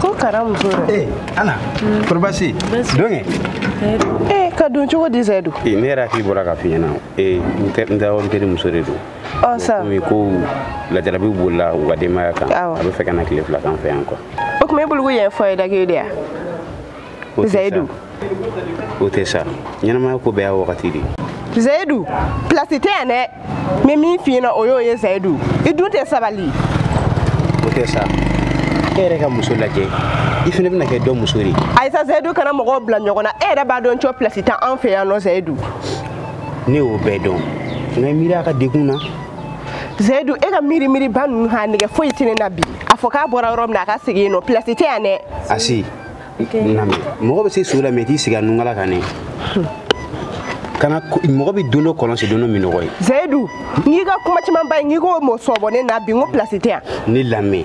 ko kara muso dɛ eh, ana kori basi don kɛ ee ka don cogo di zayidu eh, ne yɛrɛ hakili bɔra ka f'i ɲɛna eh, n teri muso de don oh, komi ko lajarabiw bolila u ka denbaya kan a bɛ fɛ ka na tile fila k'an fɛ yan kuwa o tuma e bolo ko yɛrɛ fɔ ye dakiri de ya zayidu o tɛ sa ɲɛnamaya ko bɛɛ y'a wagati de ye zayidu pilasi tɛ yan dɛ n bɛ min f'i ɲɛna o y'o ye zayidu i dun tɛ sabali o tɛ sa e yɛrɛ ka muso lajɛ i fana bɛna kɛ dɔ muso de ye ayi sa zayidu kana mɔgɔw bila ɲɔgɔn na e yɛrɛ b'a dɔn cɔ pilasi tɛ an fɛ yan nɔ zayidu ne y'o bɛɛ dɔn nka miiri a ka degun na zayidu e ka miiri miiriba ninnu a nege foyi tɛ ne na bi a fɔ k'a bɔra yɔrɔ min na a ka segin yen nɔ pilasi tɛ yan dɛ asi nami mɔgɔ bɛ se so la mɛ i t'i sigi a nunkala kan ne kana mɔgɔ bɛ don dɔ kɔlɔn sen don dɔ minnɔgɔ ye zayidu n'i ka kuma caman ba ye n'i ko mɔ sɔbɔ ne na bi n ko pilasi tɛ yan ne lamɛn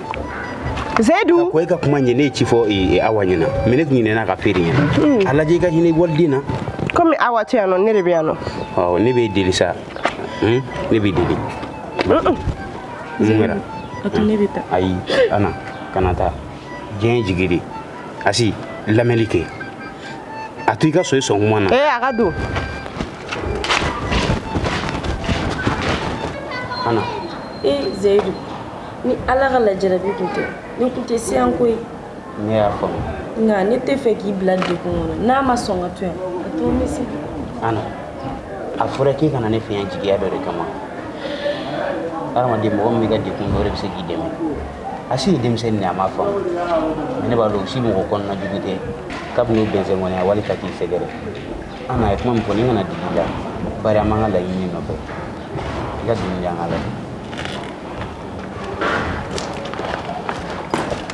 zayidu ko e ka kuma ɲɛ ne ye ci fɔ e, e, awa ɲɛna mɛ ne tun ɲinɛna k'a f'e yɛrɛ ɲɛna hmm. a lajɛ i ka hinɛ waliden na komi awa tɛ yan nɔ ne de bɛ yan nɔ ɔ ne b'e deli sa hmm? ne b'i deli mun kɛra ayi ana kana taa diɲɛ jigi de asi lamɛnli kɛ a to i ka so i sɔn kuma na ee a ka don ana ee zayidu ni ala ka lajarabi tun tɛ ne tun tɛ si yan koyi ne y'a faamu nka ne tɛ fɛ k'i bila degun kɔnɔ n'a ma sɔn ka to yan a to n bɛ se ana a fɔra k'i ka na ne fɛ yan jigiya dɔ de kama hadamaden mɔgɔ min b'i ka degun dɔn de bɛ se k'i dɛmɛ asi ye denmisɛnnin de a m'a faamu mɛ ne b'a dɔn u si mɔgɔ kɔnɔna jugu tɛ kabini o bɛnsɛn kɔni a wali ka k'i sɛgɛrɛ ana a ye kuma min fɔ ne kana digi i la bari an b'an ka laɲini nɔfɛ i ka dimi di an ka laɲini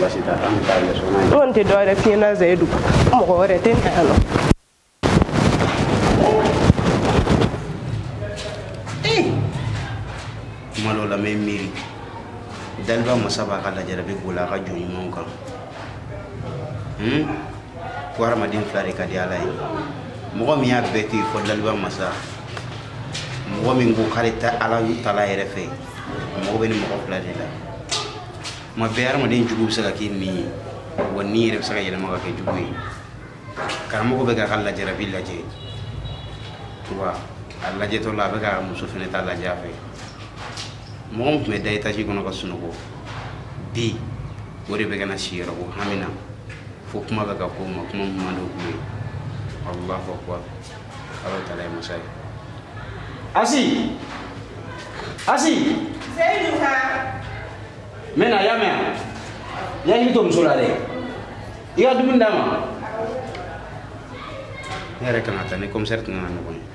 basi t'a la an bɛ taa yɛlɛ sɔgɔma in na. n tɛ dɔ wɛrɛ f'i ɲɛna zayidu mɔgɔ wɛrɛ tɛ na yan nɔ. kuma dɔw la n bɛ miiri daliba masa b'a ka lajarabi boli a ka jɔn ɲumanw kan ko hadamaden fila de ka di ala ye mɔgɔ min y'a bɛɛ to yen fo daliba masa mɔgɔ min ko k'ale ta ala taala yɛrɛ fɛ mago bɛ nin mɔgɔ fila de la tuma bɛɛ hadamaden jugu bɛ se ka k'i ɲin ye wa ɲin yɛrɛ bɛ se ka yɛlɛma ka kɛ jugu ye karamɔgɔ bɛ k'a ka lajarabi lajɛ wa a lajɛtɔ la a bɛ ka muso fana ta lajɛ a fɛ mɔgɔ min tun bɛ da etaji kɔnɔ ka sunɔgɔ bi o de bɛ ka na si yɔrɔ ko hami na fo kuma bɛ ka k'o ma kuma min man di o ye allahu akbar ala taala ye masa ye asi asi zayidu ka n bɛ na i y'a mɛn i hakili to muso la dɛ i ka dumuni d'a ma ne yɛrɛ kan ka taa ni komisɛri tun nana ɲɔgɔn ye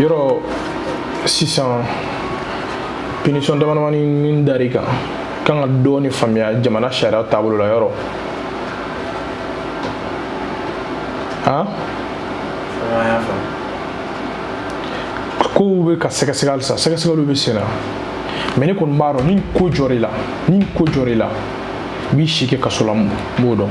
yɔrɔ sisan pinisɔn damadamani min dar'i kan kan ka dɔɔni faamuya jamana sariya taabolo la yɔrɔ han kow bɛ ka sɛgɛsɛgɛ halisa sɛgɛsɛgɛliw bɛ sen na mɛ ne kɔni b'a dɔn ni ko jɔr'i la i b'i si kɛ kaso la n b'o dɔn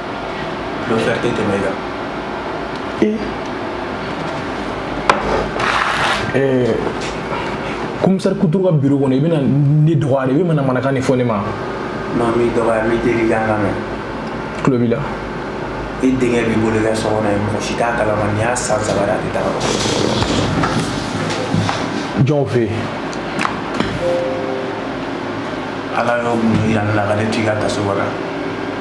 Dɔfɛri tɛ tɛmɛ i kan. Ee. Ɛɛ. Komisɛri Kuturu ka biro kɔnɔ i bɛna ne dɔgɔya de i bɛ manamanakan de fɔ ne ma. Non n m'i dɔgɔya n b'i deli ka n lamɛn. Tulo b'i la. I denkɛ b'i bolo i ka so kɔnɔ yen mɔgɔ si t'a kalama nin y'a san saba de a tɛ taa yɔrɔ. Jɔnw fɛ yen. Ala y'o mun yira ne la ka ne to i ka kaso kɔnɔ.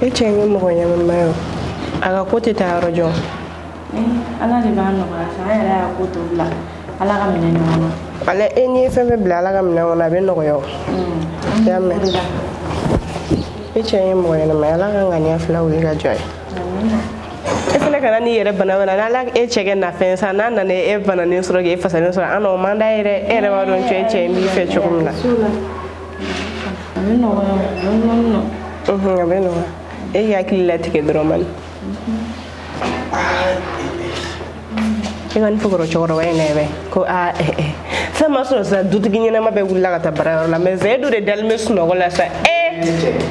e cɛ ye mɔgɔ ɲɛnama ye a ka ko tɛ taa yɔrɔ jan ala de b'a nɔgɔya sa an yɛrɛ y'a ko to bila ala ka minɛn kɔnɔ ala e n'i ye fɛn fɛn bila ala ka minɛn kɔnɔ a bɛ nɔgɔya o mm. y'a mɛn e cɛ ye mɔgɔ ɲɛnama ye ala ka ŋaniya fila wuli ka jɔ ye e fana kana n'i yɛrɛ bana wɛrɛ n'ala e cɛ kɛ nafɛn san n'a nana e bananen sɔrɔ k'e fasalen sɔrɔ an o man d'a ye dɛ e yɛrɛ b'a dɔn cɛ cɛ in b'i fɛ cogo min na A bɛ nɔgɔya e hakili latigɛ dɔrɔn man e ka fɔkɔrɔ cɛkɔrɔba in nɛgɛ ko aa sɔgɔma sunɔgɔ sa dutigi ɲɛnama bɛɛ wulila ka taa baara yɔrɔ la mɛ zedu de dalen bɛ sunɔgɔ la sa e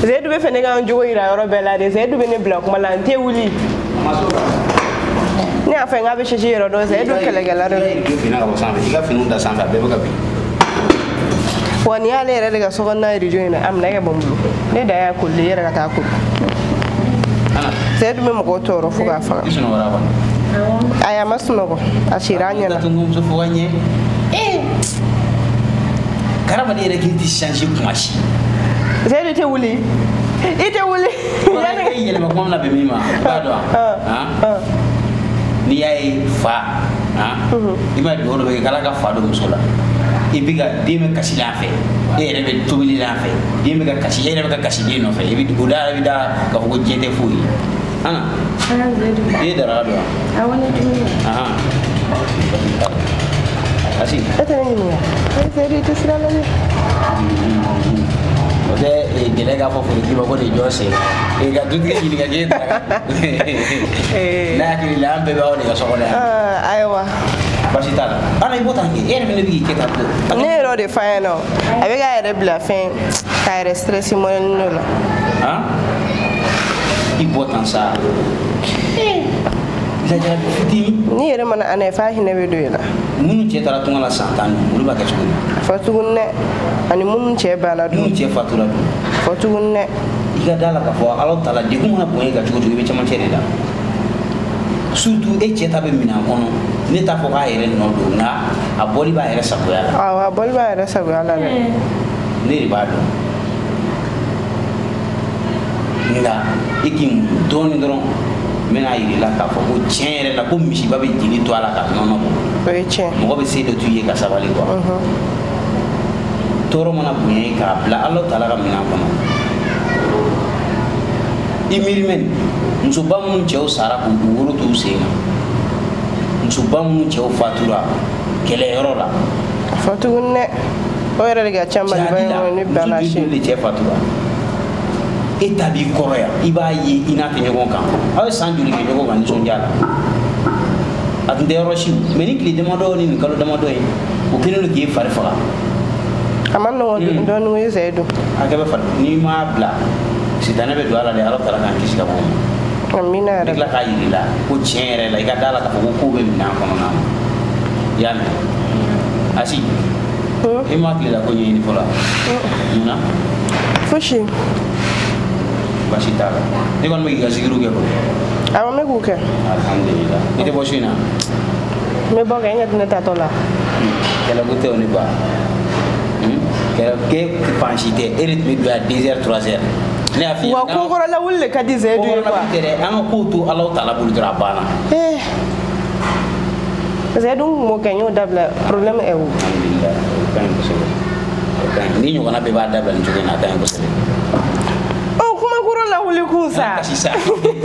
zedu b'a fɛ ne ka n jogo yira yɔrɔ bɛɛ la de zedu bɛ ne bila kuma la n tɛ wuli ne y'a fɔ n k'a bɛ sisi yɔrɔ dɔn zedu kɛlɛkɛla dɔ wa nin y'ale yɛrɛ de ka so kɔnɔna rijo in na a minɛ ka bɔ n bolo ne da y'a koli yɛrɛ ka taa koli zedu bɛ mɔgɔ tɔɔrɔ fo k'a faga ayi a ma sunɔgɔ a sira ɲɛ na karama ne yɛrɛ k'i tɛ change kuma si Seyidu i tɛ wuli i tɛ wuli. E yɛlɛmako bɛna bɛn min ma i b'a dɔn wa. N'i y'a ye fa i b'a dugawu dɔ bɛ kɛ k'Ala ka fa don muso la i bɛ ka den bɛ kasi la a fɛ e yɛrɛ bɛ tobili la a fɛ den bɛ ka kasi e yɛrɛ bɛ ka kasi den nɔfɛ i b'i kɔ da i b'i da k'a fɔ ko diɲɛ tɛ foyi ye. ana Ana zɛdu. e dara don A wani duniya. aha asi Ita ne ne ya. Asi tɛ sira la dɛ. o de ka gɛlɛn k'a fɔ forotigi ma ko nin jɔ sen Eh, ka dutigi ɲininka k'e da ne hakili la an bɛɛ b'aw de ka so kɔnɔ yan Ah, ayiwa. basi t'a la ana i bɔ tan kɛ e yɛrɛ fɛnɛ bɛ k'i kɛ tan to Ne yɛrɛ o de f'a ɲɛna o. A bɛ k'a yɛrɛ bila fɛn k'a yɛrɛ stress mɔnɛni n'o la. i bɔ tan sa lajara fitini ni yɛrɛ mana ana fa hinɛ bɛ don i la minnu cɛ taara tunga la san tan olu b'a kɛ cogo di a fɔ tuguni dɛ ani minnu cɛ banna dun minnu cɛ fatura dun a fɔ tuguni dɛ i ka da la k'a fɔ ala taala degun mana bonya i kan cogo o cogo i bɛ camancɛ de la surtout e cɛ ta bɛ minɛn kɔnɔ ne t'a fɔ k'a yɛrɛ nɔ don nka a bɔli b'a yɛrɛ sagoya la awɔ a bɔli b'a yɛrɛ sagoya la dɛ ne de b'a dɔn nka e k'i muɲu dɔɔnin dɔrɔn n bɛn'a yir'i la k'a fɔ ko tiɲɛ yɛrɛ la ko misiba bɛ jeli to a la ka nɔnɔ bɔ o ye tiɲɛ mɔgɔ bɛ se dɔ to i ye ka sabali ko tɔɔrɔ mana bonya ye k'a bila ala taala ka minɛn kɔnɔ i miiri mɛn musoba minnu cɛw sara k'u woro t'u sen kan musoba minnu cɛw fatura kɛlɛyɔrɔ la a fɔ tuguni dɛ o yɛrɛ de ka ca maliba in kɔnɔ ni bana si de cɛ fatura e ta b'i kɔrɔ yan i b'a ye i n'a tɛ ɲɔgɔn kan aw ye san joli kɛ ɲɔgɔn kan nisɔndiya la a tun tɛ yɔrɔ si mais nin tile damadɔ ni nin kalo damadɔ ye o kɛlen don k'e fari faga a man nɔgɔn dɔɔnin ko e cɛ don a kɛ bɛ fari n'i m'a bila sitanɛ bɛ don a la dɛ ala taala k'an kisi ka bɔ o ma amina yɛrɛ tila k'a yir'i la ko tiɲɛ yɛrɛ la i ka da la k'a fɔ ko kow bɛ minɛn kɔnɔna na i y'a mɛn asi i ma tilela ko ɲɛɲini fɔlɔ mun na fosi basi t'a la ne kɔni bɛ k'i ka zikiriw kɛ kɔni awɔ n bɛ k'u kɛ alhamdulila i tɛ bɔ su in na n bɛ bɔ kɛ nka ne taatɔ la kɛlɛko tɛ o ne ma kɛlɛ kɛ fan si dɛ e de tun bɛ don yan deux heures trois heures ne y'a f'i ye wa ko kɔrɔ lawuli de ka di zɛdu ye quoi an ka kow to ala taala bolo dɔrɔn a banna parce que n tun b'o kɛ n y'o dabila problème est où alhamdulillah o ka ɲi kosɛbɛ o ka ɲi ni ɲɔgɔnna bɛɛ b'a dabila nin cogo in na a ka ɲi kosɛbɛ ɔ kuma kɔrɔ lawuli kun sa kasi sa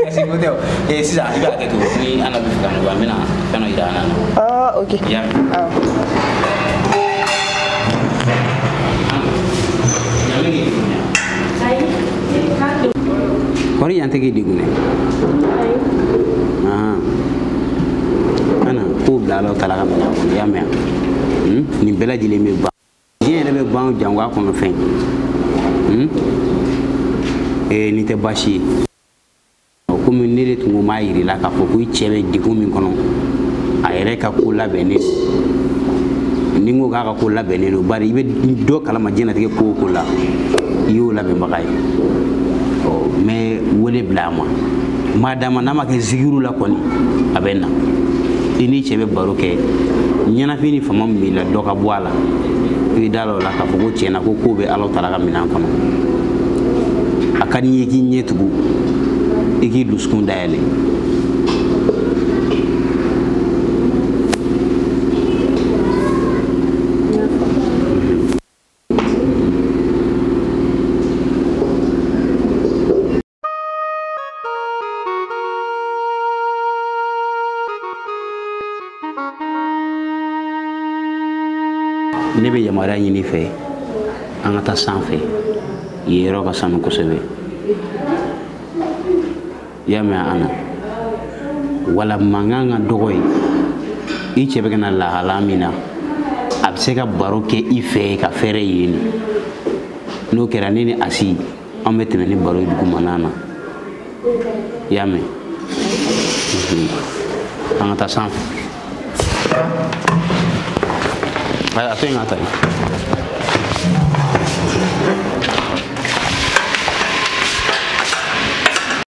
kasi ko tɛ o ee eh, sisan i b'a kɛ cogo ni ana bɛ fɛ ka nɔgɔya n bɛna fɛn dɔ yira ana na ah ok y'a mɛn awɔ kɔri an tɛ k'i degun dɛ ana ko bila ala taala ka minɛn kɔnɔ i y'a mɛn hmm? nin bɛɛ lajɛlen bɛ ban diɲɛ yɛrɛ bɛ ban jango a kɔnɔ fɛn hmm? eh, nin tɛ baasi ye komi ne de tun ko m'a yir'i la k'a fɔ ko i cɛ bɛ degun min kɔnɔ a yɛrɛ ka ko labɛnnen don ni n ko k'a ka ko labɛnnen don bari i bɛ dɔ kalama diɲɛnatigɛ ko o ko la i y'o labɛnbaga ye ɔ n bɛ wele bila a ma madama n'a ma kɛ zigiru la kɔni a bɛ na i n'i cɛ bɛ baro kɛ ɲɛnafin ni fama min b'i la dɔ ka bɔ a la i bɛ da o la k'a fɔ ko tiɲɛ na ko kow bɛ ala taala ka minɛn kɔnɔ a ka di n ye k'i ɲɛ tugu i k'i dusukun dayɛlɛ ne bɛ yamaruya ɲini i fɛ an ka taa sanfɛ yen yɔrɔ ka sanu kosɛbɛ i y'a mɛn an na wala mankan ka dɔgɔ yen i cɛ bɛ ka na lahala min na a bɛ se ka baro kɛ i fɛ ka fɛrɛ yen n'o kɛra ne ni asi an bɛ tɛmɛ ni baro ye dugumana na i y'a mɛn an ka taa sanfɛ a to yen ka taa yen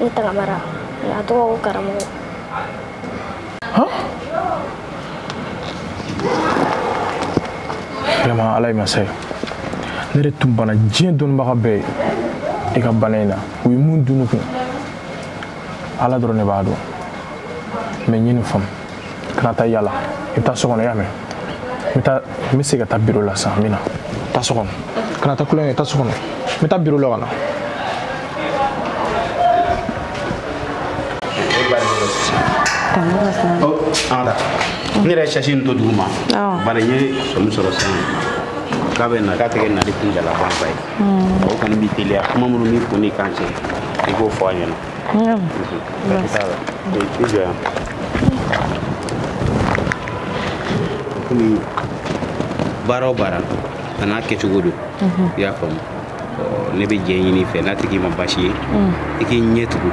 ne tagamara a tɔgɔ ko karamɔgɔ vraiment ala ye masa ye ne de tun bana diɲɛ dɔnnibaga bɛɛ ye i ka bana in na u ye mun dunu kun ala dɔrɔn ne b'a dɔn mais n ye nin faamu kana taa yala i bɛ taa so kɔnɔ i y'a mɛn n bɛ segin ka taa biro la sisan n bɛ na taa so kɔnɔ kana taa kulonkɛ taa so kɔnɔ n bɛ taa biro la ka na. ne yɛrɛ sasi nin to dugu ma bari n ye sɔmi sɔrɔ sisan k'a bɛ na k'a tɛ kɛ nali kuntaalajanba ye o kɔni b'i teliya kuma minnu b'i kun n'i kan cɛ i k'o fɔ a ɲɛna i jɔ yan komi baara o baara a n'a kɛcogo don i y'a faamu ne bɛ jɛ ɲini i fɛ n'a tigi ma baasi ye i k'i ɲɛ tugu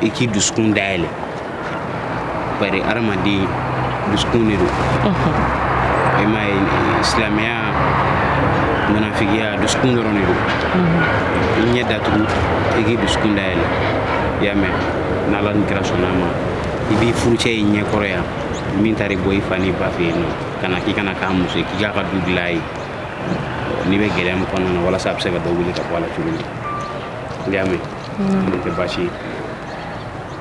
i k'i dusukun dayɛlɛ bari hadamaden dusukun de don i m'a ye silamɛya munafigiya dusukun dɔrɔn de don i ɲɛ datugu i k'i dusukun dayɛlɛ i y'a mɛn n'ala ni kira sɔnn'a ma i b'i furucɛ y'i ɲɛ kɔrɔ yan min taara i bɔ i fa n'i ba fɛ yen nɔ ka na k'i ka na k'a muso ye k'i k'a ka du dilan a ye n'i bɛ gɛlɛya min kɔnɔna na walasa a bɛ se ka dɔ wuli ka bɔ a la cogo min i y'a mɛn n'o tɛ baasi ye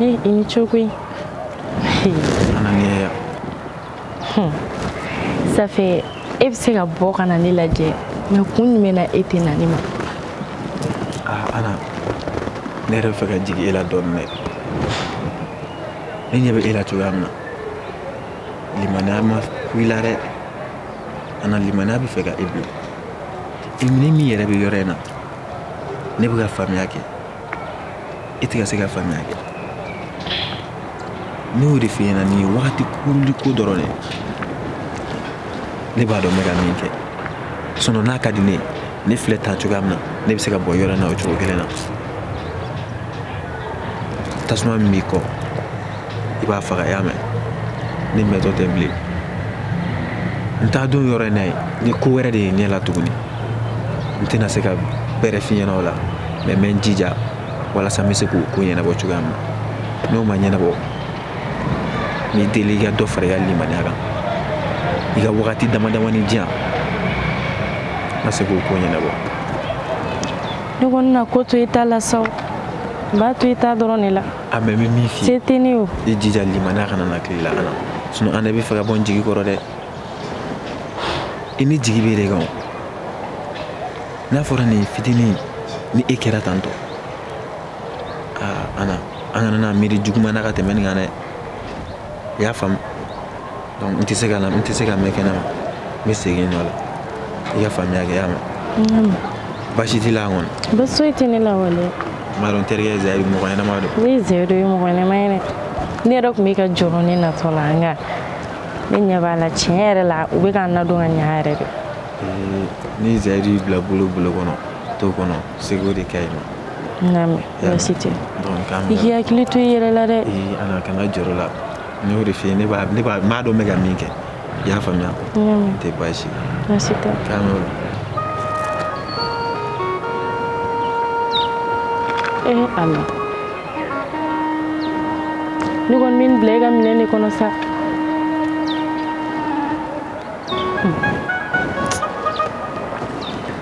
Eh, i ni ce koyi ana ni ye yan safe e bɛ se ka bɔ ka na ne lajɛ mɛ kun jumɛn na e tɛ na ne ma ah, ana ne yɛrɛ bɛ fɛ ka jigin e la dɔɔnin dɛ ne ɲɛ bɛ e la cogoya min na limaniya ma ku i la dɛ ana limaniya bɛ fɛ ka e bila ne min yɛrɛ bɛ yɔrɔ in na ne bɛ ka faamuya kɛ i tɛ ka se ka faamuya kɛ ne y'o de f'i ɲɛna nin ye wagati kurunnin ko dɔrɔn de ne b'a dɔn n bɛ ka min kɛ sinɔn n'a ka di ne ye ne filɛ tan cogoya min na ne bɛ se ka bɔ yɔrɔ in na o cogo kelen na tasuma min b'i kɔ i b'a faga i y'a mɛn ne mɛntɔ tɛ bilen n t'a dɔn yɔrɔ in na ye ni ko wɛrɛ de ye ɲɛ la tuguni n tɛna se ka bɛrɛ f'i ɲɛna o la mɛ n bɛ n jija walasa n bɛ se k'o ko ɲɛnabɔ cogoya min na n'o ma ɲɛnabɔ n b'i deli i ka dɔ fara i ka limaniya kan i ka wagati dama damani di yan n ka se k'o ko ɲɛnabɔ ne kɔni na ko to i ta la sa o n b'a to i ta dɔrɔn de la a mɛ n bɛ min f'i ye se tɛ ne o i jija limaniya kana na tile la an na sinɔn an de bɛ fɛ ka bɔ n jigi kɔrɔ dɛ i ne jigi b'e de kan n'a fɔra nin fitinin ni e kɛra tantɔ aa ana an kana na miiri juguman na ka tɛmɛ nin kan dɛ i y'a faamu donc n tɛ se ka mɛn kɛnɛ ma n bɛ segin nɔ la i ka faamuya kɛ i y'a mɛn baasi t'i la kɔni baasi foyi tɛ ne la wale n b'a dɔn n terikɛ zayiri mɔgɔ ɲɛnama don oui zayiri ye mɔgɔ ɲɛnama ye dɛ ne yɛrɛ tun bɛ ka jɔrɔ ne natɔ la nka ne ɲɛ b'a la tiɲɛ yɛrɛ la u bɛ ka n ladon ka ɲa yɛrɛ de ni zayiri bila bolo kɔnɔ to kɔnɔ seko de ka ɲi ma nka baasi tɛ donc i k'i hakili to i yɛrɛ la dɛ ana n y'o de f'i ye n b'a dɔn n bɛ ka min kɛ i y'a faamuya n tɛ baasi tɛ k'an y'o la ee ala ne kɔni bɛ n bila i ka minɛn de kɔnɔ sa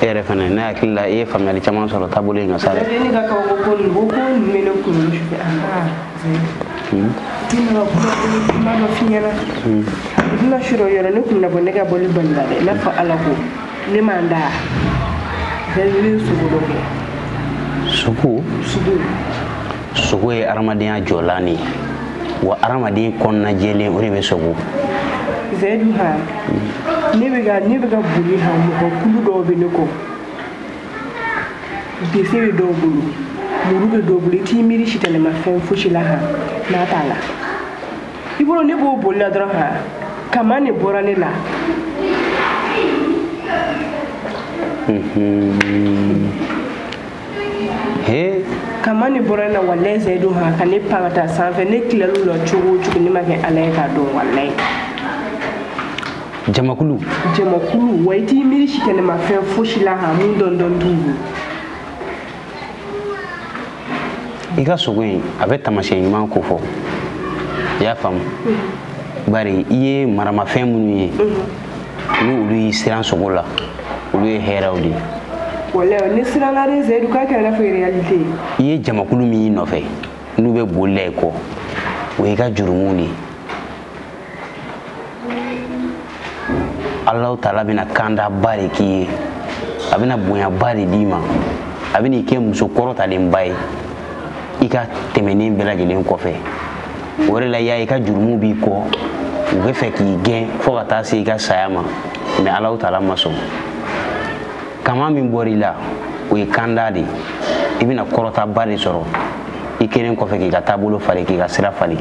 e yɛrɛ fana ne hakili la i ye faamuyali caman sɔrɔ taabolo in kan sa dɛ ne ka kaw ko ko nin ko ko nin bɛ ne kunkolo sufɛ a ma hmm. ne ma kuma ko ma dɔ f'i ɲɛna hmm. i bɛna su dɔ yɔrɔ ne kun na bɔ ne ka bɔli balila dɛ i n'a fɔ ala ko ne mana da ne bɛ sogo dɔ kɛ sogo sogo sogo ye adamadenya jɔlan de ye wa adamaden kɔnɔna jɛlen o de bɛ sogo zayidu ha ne bɛ ka ne bɛ ka boli ha mɔgɔ kulu dɔw bɛ ne kɔ bese bɛ dɔw bolo muru bɛ dɔw bolo i t'i miiri sitanɛmafɛn fosi la ha n'a t'a la i bolo ne b'o boli la dɔrɔn ha kamanin bɔra ne la Mm-hmm. he kamanin bɔra n na walayi zayidu ha ka ne pan ka taa sanfɛ ne tilal'u la cogo o cogo ne ma kɛ ala ye k'a dɔn walayi jamakulu jamakulu wa i t'i miiri sitanɛmafɛn fosi la ha mun dɔndɔn t'u ye i ka sogo in a bɛ tamasiyɛn ɲuman kofɔ i y'a faamu bari i ye maramafɛn minnu ye ni olu y'i siran sogo la olu ye hɛrɛw de ye walayi ne siranna dɛ zayidu k'a kɛra n'a fɔ réalité ye i ye jamakulu min y'i nɔfɛ n'u bɛ boli la i kɔ o y'i ka jurumuw de ye alahu taala bɛna kandaba de k'i ye a bɛna bonyaba de d'i ma a bɛna i kɛ muso kɔrɔtalenba ye i ka tɛmɛnen bɛɛ lajɛlen kɔfɛ o de la y'a ye i ka jurumu b'i kɔ u bɛ fɛ k'i gɛn fo ka taa se i ka saya ma mɛ alahu taala ma sɔn kaman min bɔra i la o ye kanda de i bɛna kɔrɔtaba de sɔrɔ i kɛlen kɔfɛ k'i ka taabolo falen k'i ka sira falen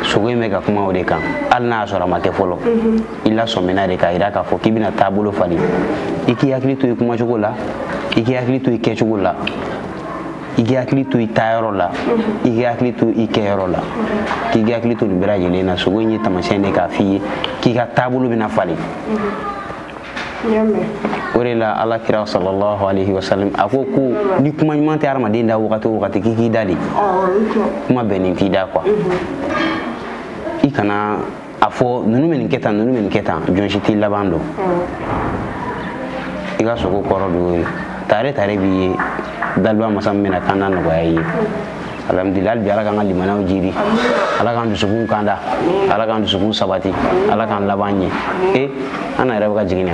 sogo in bɛ ka kuma o de kan hali n'a y'a sɔrɔ a ma kɛ fɔlɔ mhm. i lasɔmina de k'a jira k'a fɔ k'i bɛna taabolo falen i k'i hakili to i kumacogo la i k'i hakili to i kɛcogo la i k'i hakili to i taayɔrɔ la i k'i hakili to i kɛyɔrɔ la k'i hakili to nin bɛɛ lajɛlen na sogo in ye tamasiyɛn de k'a f'i ye k'i ka taabolo bɛna falen o de la ala kira sallallahu alaihi wasallam a ko ko ni kuma ɲuman tɛ hadamaden da wagati o wagati k'i k'i da de kuma bɛnnen t'i da kuwa i kana a fɔ ninnu bɛ nin kɛ tan ninnu bɛ nin kɛ tan jɔn si t'i laban dɔn i ka sogo kɔrɔ don ye tare tare b'i ye daliba masa min bɛna kanda nɔgɔya i ye alhamdulilayi hali bi ala k'an ka limanaw jiidi ala k'an dusukun kanda ala k'an dusukun sabati ala k'an laban ɲɛ e an na yɛrɛ bɛ ka jigin na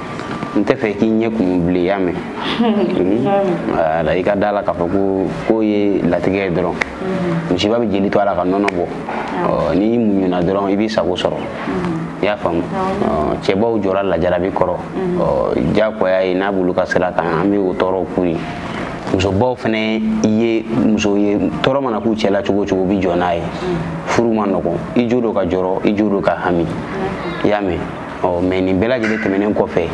n tɛ fɛ k'i ɲɛ kun bilen y'a mɛn wala i ka da la k'a fɔ ko k'o ye latigɛ ye dɔrɔn misiba bɛ jeli to a la ka nɔnɔ bɔ n'i muɲuna dɔrɔn i b'i sago sɔrɔ i y'a faamu cɛbaw jɔrɔla jarabi kɔrɔ diyagoya ye n'a b'olu ka sira kan an bɛ o tɔɔrɔw k'u ye musobaw fana ye muso ye tɔɔrɔ mana k'u cɛla cogo cogo bi jɔ n'a ye furu man nɔgɔn i jo don ka jɔrɔ i jo don ka hami i y'a mɛn ɔ mɛ nin bɛɛ lajɛlen tɛmɛnen kɔfɛ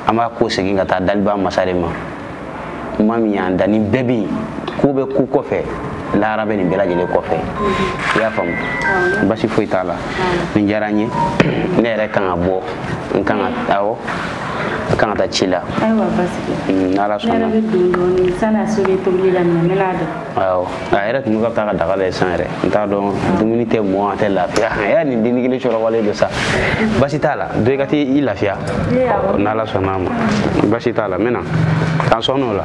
an b'a kɔsegin ka taa daliba masa de ma maa min y'an da nin bɛɛ bɛ yen ko bɛ ko kɔfɛ lahara bɛ nin bɛɛ lajɛlen kɔfɛ i y'a faamu basi foyi t'a la nin diyara n ye ne yɛrɛ kan ka bɔ n kan ka awɔ a kan ka taa ci la ayiwa basi tɛ n'ala sɔnna ne yɛrɛ bɛ don dɔɔni san'a suri tobili la mɛ n bɛna don awɔ a yɛrɛ tun bɛ ka taa ka daga lajɛ san yɛrɛ n t'a dɔn dumuni tɛ mɔ a tɛ lafiya a y'a nin denni kelen sɔrɔ wale don sa basi t'a la don i ka t'i lafiya n'ala sɔnna a ma basi t'a la n bɛ na k'an sɔn n'o la